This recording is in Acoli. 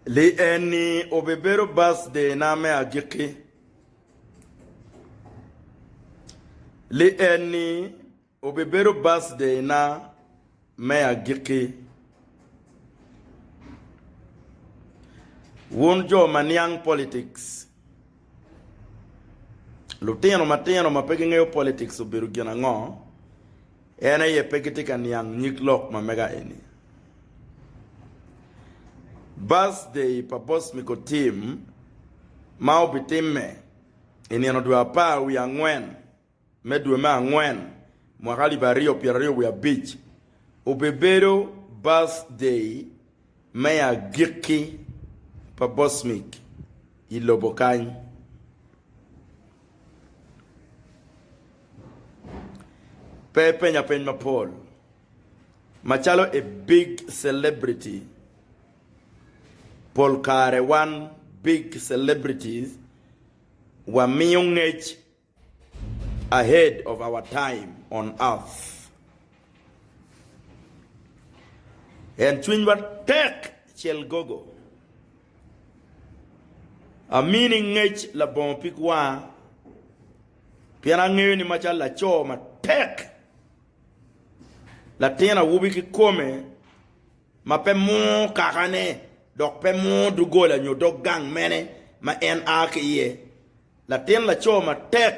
Li eni obibedo bac-dena me agikki. Li eni obibedo bac-dena me agikki. Wun jo ma niang politics, lutino matino ma pe gingeyo politics obedo gin ango? En aye pe gitye ka niang nyig lok ma mega eni. Birthday pa Boss Miko Tim ma obitimme i nino dwe apar wiye angwen me dwe me angwen mwaka alip aryo pyeraryo wiye abic obibedo birthday Me agikki pa Bosmik i lobo kany. Pe ipenya peny mapol, macalo i big celebrity, pol kare wan big celebrities wamiyo ngec. Ahead of our time on earth and cwinywa tek cel gogo amini ngec labongo pig wanga pien angeyo ni macalo laco matek latin awobi kikome ma pe mur kakane dok pe mur doggola nyo dog gang mene ma en a ki iye, latin laco matek.